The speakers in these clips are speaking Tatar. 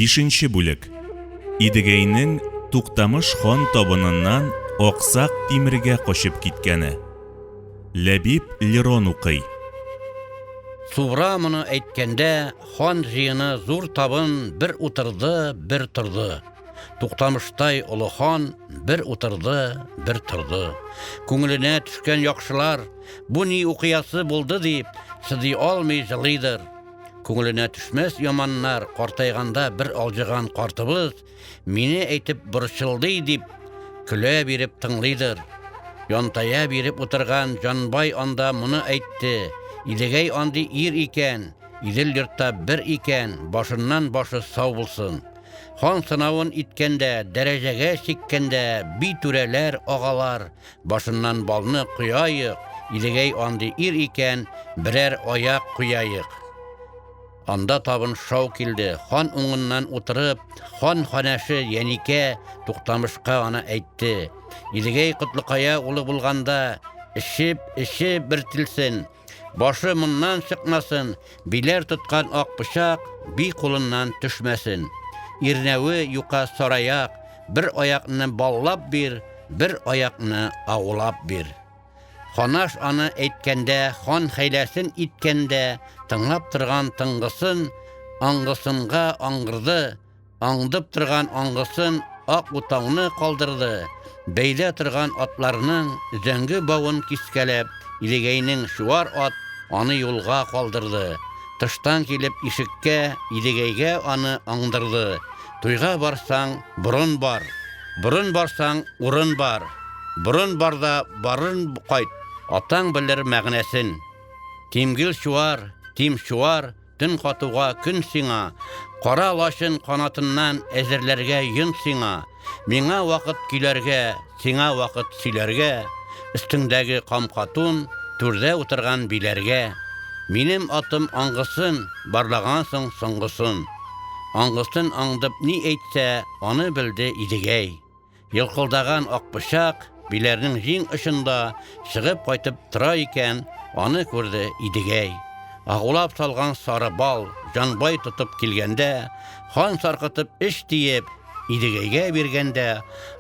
Бишенче бүлек. Идегәйнең Туктамыш хан табыныннан Аксак Тимергә качып киткәне. Ләбиб Лерон укый. Субра моны әйткәндә, хан җыены зур табын бер утырды, бер торды. Туктамыштай олы хан бер утырды, бер торды. Күңеленә төшкән яхшылар, бу ни укыясы булды дип, сыдый алмый җылыйдыр. Күңеленә төшмәс яманнар картайганда бер алҗыган картыбыз мине әйтеп борчылды дип, көлә биреп тыңлыйдыр. Янтая биреп утырган Җанбай анда моны әйтте. Идегәй андый ир икән, Идел йортта бер икән, башыннан башы сау булсын. Хан сынавын иткәндә, дәрәҗәгә чиккәндә, би түрәләр, агалар, башыннан балны кояйык, Идегәй андый ир икән, берәр аяк кояйык. Анда табын шау килде. Хан уңыннан утырып, хан ханәше Яникә Туктамышка аны әйтте. Идегәй Котлыкая улы булганда, эчеп, эчеп бер тилсен, Башы моннан чыкмасын, биләр тоткан ак пычак би кулыннан төшмәсен. Ирнәве юка сараяк, бер аякны баллап бир, бер аякны аулап бир. Ханаш аны әйткәндә, хан хәйләсен иткәндә, тыңлап торган тыңгысын, аңгысынга аңгырды, аңдып торган аңгысын ак утауны калдырды, бәйлә торган атларның зәңге бавын кискәләп, Идегәйнең чуар ат аны юлга калдырды. Тыштан килеп ишеккә, Идегәйгә аны аңдырды. Туйга барсаң, борын бар. Борын барсаң, урын бар. Борын барда барын кайт, атаң белер мәгънәсен. Тимгел чуар, тим чуар, Төн катуга көн сиңа, Кара лачын канатыннан Әзерләргә йон сиңа. Миңа вакыт көйләргә, Сиңа вакыт сөйләргә, Өстеңдәге камка тун, Түрдә утырган биләргә. Минем атым аңгысын, Барлагансың соңгысын. Аңгысын аңдып ни әйтсә, Аны белде Идегәй. Елкылдаган акпычак биләрнең җиң очында чыгып кайтып тора икән, аны күрде Идегәй. Агулап салган сары бал җанбай тотып килгәндә, хан саркытып эш диеп, Идегәйгә биргәндә,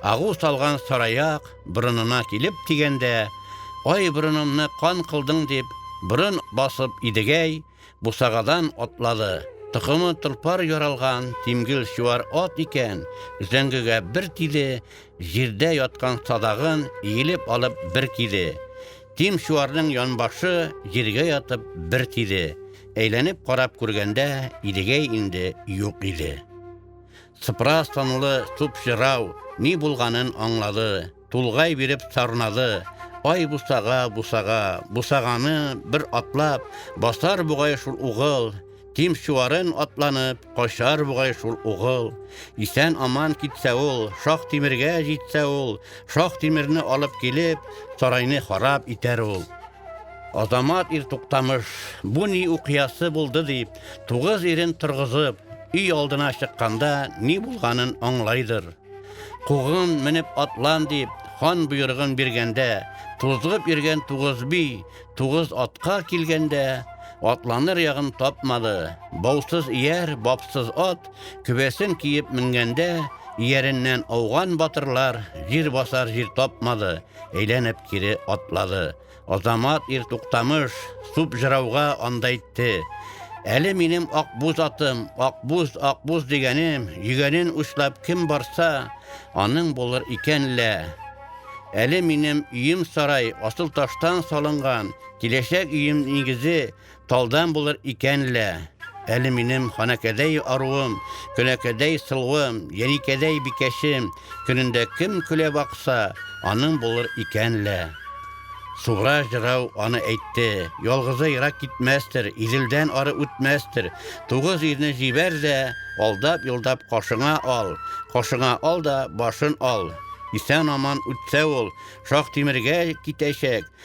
агу салган сараяк борынына килеп тигәндә, Ай, борынымны кан кылдың, дип, борын басып Идегәй бусагадан атлады. Токымы тылпар яралган тимгел чуар ат икән, зәңгегә бер тиде, җирдә яткан садагын иелеп алып бер киде. Тим чуарның янбашы җиргә ятып бер тиде. Әйләнеп карап күргәндә, Идегәй инде юк иде. Сыпыра санлы суп җырау, Ни булганын аңлады. Тулгай биреп сарнады, Ай бусага, бусага, Бусаганы бер атлап, Басар бугай шул угыл. Тим чуарын атланып, Качар бугай шул угыл. Исән-аман китсә ул, Шах Тимергә җитсә ул, Шах Тимерне алып килеп, Сарайны харап итәр ул. Азамат ир Туктамыш, Бу ни укыясы булды дип, Тугыз ирен торгызып, өй алдына чыкканда ни булганын аңлайдыр. Кугын менеп атлан дип, хан боерыгын биргәндә, тузгып йөргән тугыз би, тугыз атка килгәндә, атланыр ягын тапмады. Баусыз ияр, бапсыз ат, көбәсен киеп менгәндә, ияреннән ауган батырлар җир басар җир тапмады, әйләнеп кире атлады. Азамат ир туктамыш, суп жырауга анда әйтте. Әле минем акбуз атым, акбуз, акбуз дигәнем, йөгәнен учлап кем барса, аның булыр икән лә. Әле минем өем сарай, асыл таштан салынган, киләчәк өем нигезе, Талдан булыр икән лә, әле минем ханәкәдәй аруым, көнәкәдәй сылуым, яникәдәй бикәчем, көнендә кем көлә бакса, аның булыр икән лә. Суга җырау аны әйтте, ялгызы ерак китмәстер, Иделдән ары үтмәстер, тугыз ирне җибәр дә, алдап-йолдап кашыңа ал, кашыңа ал да башын ал. Исән-аман үтсә ул, Шаһтимергә китәчәк.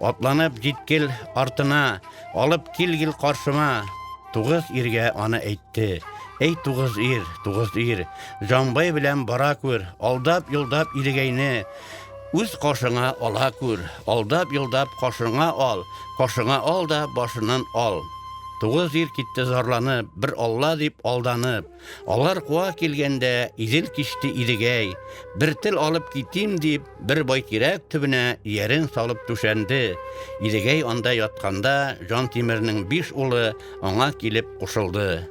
Атланып җит кил артына, алып кил гел каршыма. Тугыз иргә аны әйтте. Әй тугыз ир, тугыз ир, Җанбай белән бара күр, алдап юлдап Илегәйне үз кашыңа ала күр, алдап юлдап кашыңа ал, кашыңа ал да башыннан ал. Тугыз ир китте зарланып, бер алла дип алданып. Алар куа килгәндә, Идел кичте Идегәй, бер тел алып китим, дип, бер байтирәк төбенә иярен салып түшәнде. Идегәй анда ятканда, Җантимернең биш улы аңа килеп кушылды.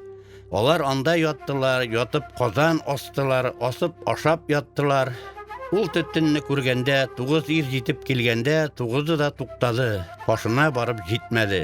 Алар анда яттылар, ятып казан астылар, асып ашап яттылар. Ул төтенне күргәндә, тугыз ир җитеп килгәндә, тугызы да туктады, кашына барып җитмәде.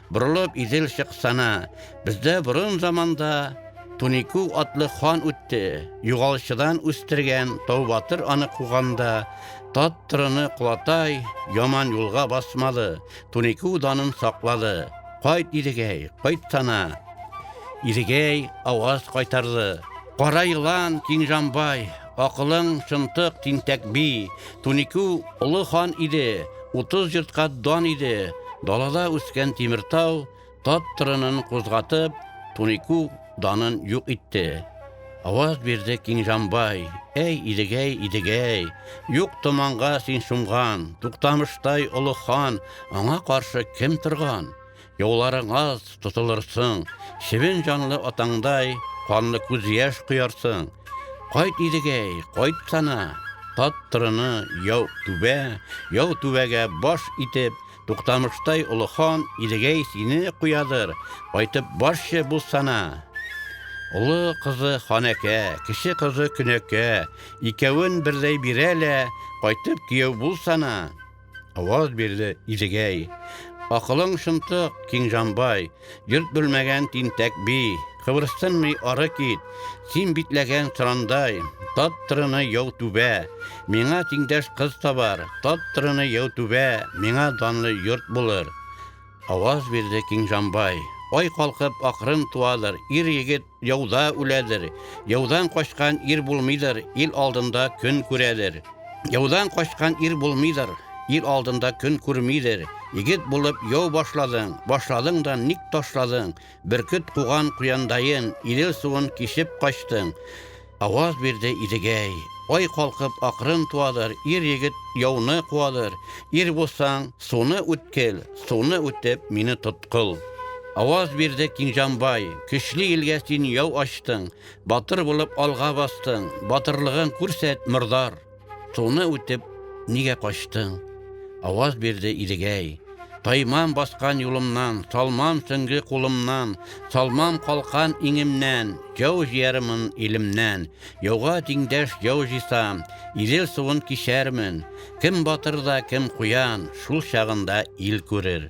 Борылып Идел чыксана, бездә борын заманда Тунику атлы хан үтте, югалчыдан үстергән Тау батыр аны куганда, тат тырыны кулатай Яман юлга басмады, Тунику данын саклады. Кайт, Идегәй, кайтсана! Идегәй аваз кайтарды. Кара елан, Киңҗанбай, Акылың, чынтык, тинтәк би. Туникү олы хан иде, Утыз йортка дан иде. Далада үскән Тимертау Тат тырынын кузгатып, Туникү данын юк итте. Аваз бирде Киңҗанбай, Әй, Идегәй, Идегәй, Юк томанга син чумган, Туктамыштай олы хан, Аңа каршы кем торган? Юлларыңа тотылырсың, чебен җанлы атаңдай, канлы күз яшь коярсың. Кайт идегәй, кайт сана, тат тырыны, яу түбә, яу түбәгә баш итеп, туктамыштай олы хан идегәй сине куядыр, кайтып барчы бу сана. Олы кызы ханәкә, кеше кызы көнәкә, икәвен бердәй бирә лә, кайтып кияү бул сана. Аваз бирде Идегәй. Акылың шынтык, киң җанбай, Йорт белмәгән тинтәк би. Кыбырсынмый ары кит, Син битләгән сырандай. Тат тырыны яу түбә, Миңа тиңдәш кыз табар. Тат тырыны яу түбә, Миңа данлы йорт булыр. Аваз бирде киң җанбай. Ай калкып акрын туадыр, Ир-егет Яуда үләдер. Яудан качкан ир булмыйдыр, ил алдында көн күрәдер. Яудан качкан ир булмыйдыр, ил алдында көн күрмидер. Егет булып яу башладың, башладың да ник ташладың? Бөркет куган куяндайын, Идел суын кичеп качтың. Аваз бирде Идегәй. Ай калкып акрын туадыр, Ир-егет яуны куадыр. Ир булсаң, суны үткел, Суны үтеп, мине тоткыл. Аваз бирде Киңҗанбай. Көчле илгә син яу ачтың, Батыр булып алга бастың, Батырлыгың күрсәт, мордар. Суны үтеп, нигә качтың? Аваз бирде Идегәй. Таймам баскан юлымнан, салмам сөнге кулымнан, салмам калкан иңемнән, яу җиярмын илемнән. Яуга тиңдәш яу җисам, Илел суын кичәрмен. Кем батыр да, кем куян, шул чагында ил күрер.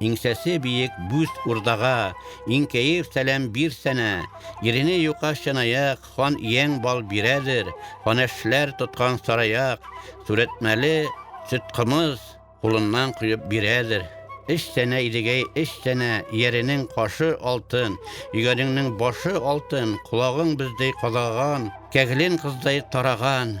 Иңсәсе биек бүз урдага, Иңкәеп сәлам бир сәнә. Ирене юка чынаяк, Хан ияң бал бирәдер. Ханәшләр тоткан сараяк, Сүрәтмәле сөт кымыз Кулыннан коеп бирәдер. Эш сәнә, Идегәй, эш сәнә, Ияренең кашы алтын, Йөгәнеңнең башы алтын, Колагың бездәй кадаган, Кәгелен кыздай тараган.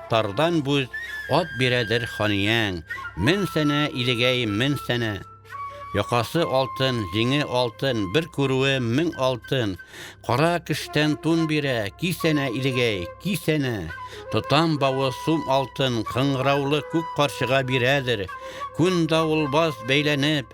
Тардан бүз ат бирәдер ханияң, Мен сәнә, Илегәй, мен сәнә. Якасы алтын, җиңе алтын, Бер күрүе мең алтын. Кара көштән тун бирә, Ки сәнә, Илегәй, ки сәнә. Тотам бавы сум алтын, Кыңгыраулы күк карчыга бирәдер. Күн давылбаз бәйләнеп.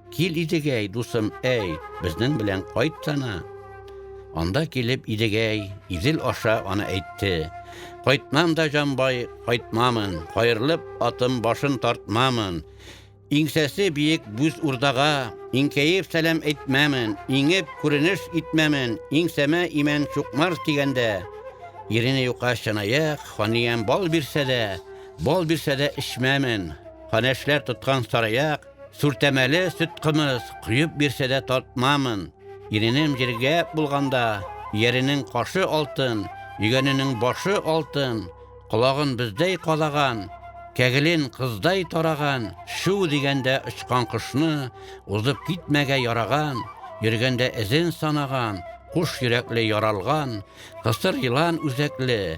Кил Идегәй, дусым, әй, безнең белән кайт сана. Анда килеп Идегәй, Идел аша аны әйтте. Кайтмам да, җанбай, кайтмамын, каерылып атым башын тартмамын. Иңсәсе биек бүз урдага, иңкәеп сәлам әйтмәмен, иңеп күренеш итмәмен, иңсәмә имән чукмар дигәндә. Ирене юка чынаяк, ханиям бал бирсә дә, бал бирсә дә эчмәмен. Ханәшләр тоткан сараяк, Сүртәмәле сөт кымыз коеп бирсә дә татмамын. Иренем җиргә булганда, ияренең кашы алтын, йөгәненең башы алтын, колагын бездәй кадаган, кәгелен кыздай тараган, шү дигәндә очкан кошны, узып китмәгә яраган, йөргәндә эзен санаган, куш йөрәкле яралган, кысыр елан үзәкле,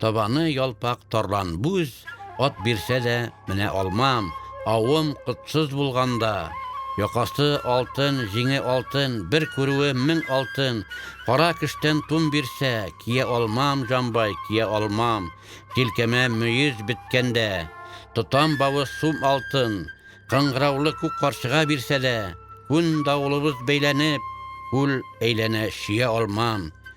Табаны ялпак тарлан бүз, Ат бирсә дә менә алмам. Авым котсыз булганда, Якасы алтын, җиңе алтын, Бер күрүе мең алтын. Кара көчтән тун бирсә, Кия алмам, җанбай, кия алмам. Җилкәмә мөез беткәндә, Тотам бавы сум алтын. Кыңгыраулы күк карчыга бирсә дә, Күн давылыбыз бәйләнеп, Күл әйләнә чөя алмам.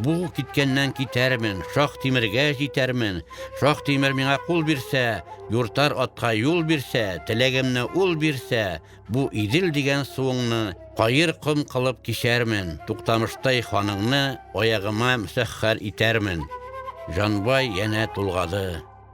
Бу киткәннән китәрмен, шах тимергә җитәрмен. Шах тимер миңа кул бирсә, юртар атка юл бирсә, теләгемне ул бирсә, бу Идел дигән суыңны каер ком кылып кичәрмен. Туктамыштай ханыңны аягыма мөсәххәр итәрмен. Җанбай янә тулгады.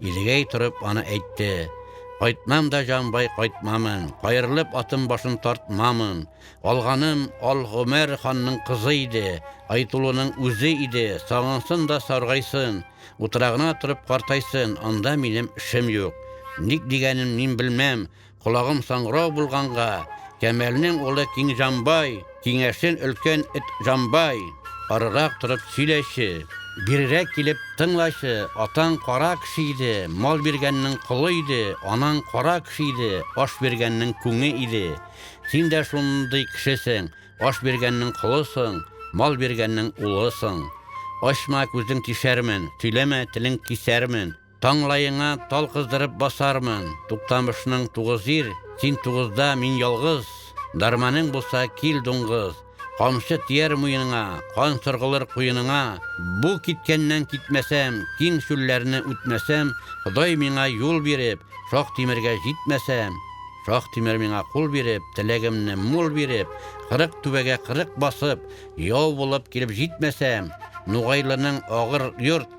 Илгәй торып аны әйтте. Кайтмам да, җанбай, кайтмамын. Каерылып атым башын тартмамын. Алганым Ал Гомәр ханның кызы иде, Айтулының үзе иде. Сагынсын да саргайсын, утрагына торып картайсын, анда минем эшем юк. Ник дигәнен мин белмәм, Колагым саңгырау булганга, Кәмәлнең улы Киңҗанбай, киңәшен өлкән эт Җанбай, арырак торып сөйләче, бирерәк килеп тыңлачы, атаң кара кеше иде, мал биргәннең колы иде, анаң кара кеше иде, аш биргәннең күңе иде. Син дә шундый кешесең, аш биргәннең колысың, мал биргәннең улысың. Ачма, күзең тишәрмен, сөйләмә, телең кисәрмен. Таңлаеңа тал кыздырып басармын, Туктамышның тугыз ир, син тугызда, мин ялгыз, Дәрманың булса, кил, дуңгыз, Камчы тияр муеныңа, кан сыргылыр куеныңа, Бу киткәннән китмәсәм, киң чүлләрне үтмәсәм, Ходай миңа юл биреп, Шаһ-Тимергә җитмәсәм, Шаһ-Тимер миңа кул биреп, теләгемне мул биреп, Кырык түбәгә кырык басып, яу булып килеп җитмәсәм, Нугайлының агыр йорт,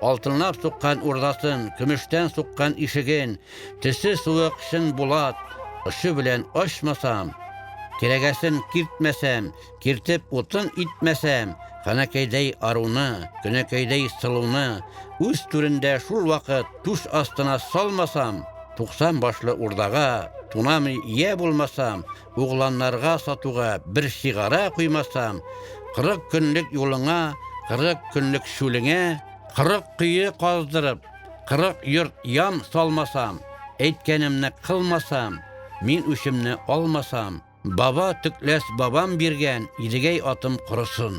Алтынлап суккан урдасын, көмештән суккан ишеген, төсе суык чын булат очы белән ачмасам, кирәгәсен киртмәсәм, киртеп утын итмәсәм, ханәкәйдәй аруны, көнәкәйдәй сылуны үз түрендә шул вакыт түш астына салмасам, туксан башлы урдага тунамый ия булмасам, Угланнарга сатуга бер сигара куймасам, Кырык көнлек юлыңа, кырык көнлек чүлеңә, Кырык кое каздырып, кырык йорт ян салмасам, Әйткәнемне кылмасам, мин үчемне алмасам, Баба төкләс бабам биргән Идегәй атым корысын.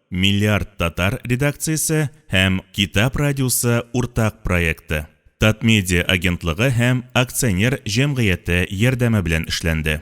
Миллиард татар редакциясе һәм Китап радиосы уртак проекты, Татмедиа агентлыгы һәм акционер җәмгыяте ярдәме белән эшләнде.